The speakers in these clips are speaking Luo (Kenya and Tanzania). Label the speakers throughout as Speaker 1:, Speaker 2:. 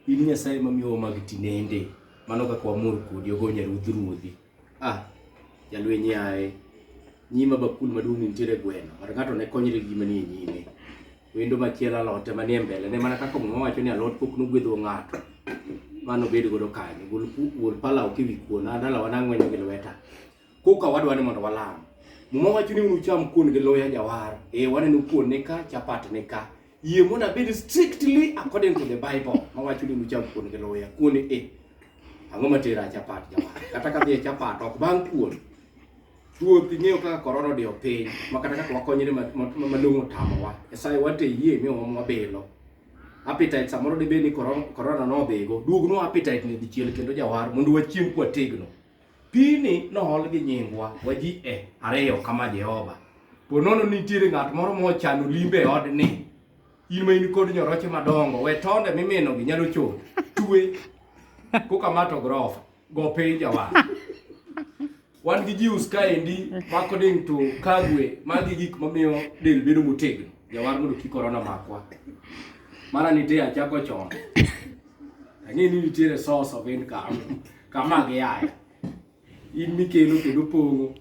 Speaker 1: In Nyasaye mamiyowa mag tinende, mano kaka wamor kodi, ogo Nyaruodh ruodhi. Ah, jalweny yaye, nyima bakul maduong' nitiere gweno, kata ng'ato ne konyre gi gima nie nyime. Wendo machielo alote manie mbele ne mana kaka muma wacho ni alot pok nogwedho ng'ato mano bed godo kanyo gol palaw kiwi kuona dalawa nang'wenyo gi lweta koka wadwa ni mondo walam. Muma wacho ni unucham kuon gi loya jawar. Eh, waneno kuon ni ka, chapat ni ka. Yie mondo abed strictly according to the Bible. Ma wacho ni unucham kuon gi loya. Kuon ni eh. Ang'o ma tera chapat jawar? Kata ka dhie chapat ok bang' kuon. Ruoth ing'eyo kaka korona odiyo piny ma kata kaka wakonyre malong'o tamowa. Nyasaye wate yie mi omwa bilo. Appetite samoro dibed ni korona nodhigo. Duognwa appetite ni dichiel kendo jawar mondo wachiem kwategno. Pini nool gi nyingwa waji e ariyo kama Jehova. Po nono nitiere ng'at moro mochano limbe e odni. In ma in kod nyoroche madongo, we tonde mimino gi nyalo chot. Twe. Koka mato grofa. Go piny jawa. Wan gi jius kaendi mako ding to kagwe magi gik mamiyo del bedo motegno. Jawar mondo kik korona makwa. Mara nitie achako chon. Ang'e ni nitiere source of income. kama giyaya in mikelo kendo pong'o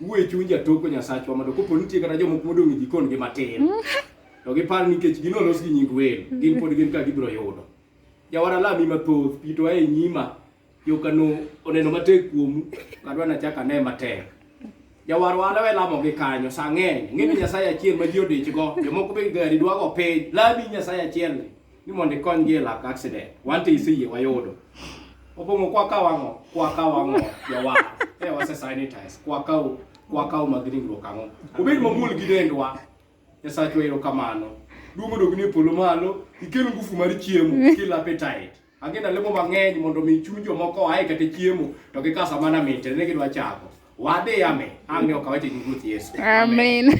Speaker 1: wuoye chuny jatoko nyasachwa mondo kopo nitie kata jomoko modong' e jikon gi matin to gipar nikech gino olos gi nying welo gin pod gin ka gibiro yudo jawara lami mathoth pito ae nyima yokano oneno matek kuomu kadwa nachak ane matek jawar wala we lamo gi kanyo sa ng'eny ng'e ni nyasaye achiel ma ji odichgo jomoko be gari dwago piny lami nyasaye achielni ni mondo ikonygi e lak accident wan to iseyie wayudo opong'o kwa ka wang'o kwa ka wang'o jawa e wase sanitize kwa ka kwa ka mag ringruok ang'o obed mamul gi dendwa nyasachwa ero kamano duong' odogni e polo malo ikel ngufu mar chiemo mm. kill appetite agenda lemo mang'eny mondo mi chuny jomoko oae kata chiemo to gikasa mana minte ne gidwa chako wadhi ame ang'
Speaker 2: ne ok
Speaker 1: awache gi ruoth yesu amen, amen.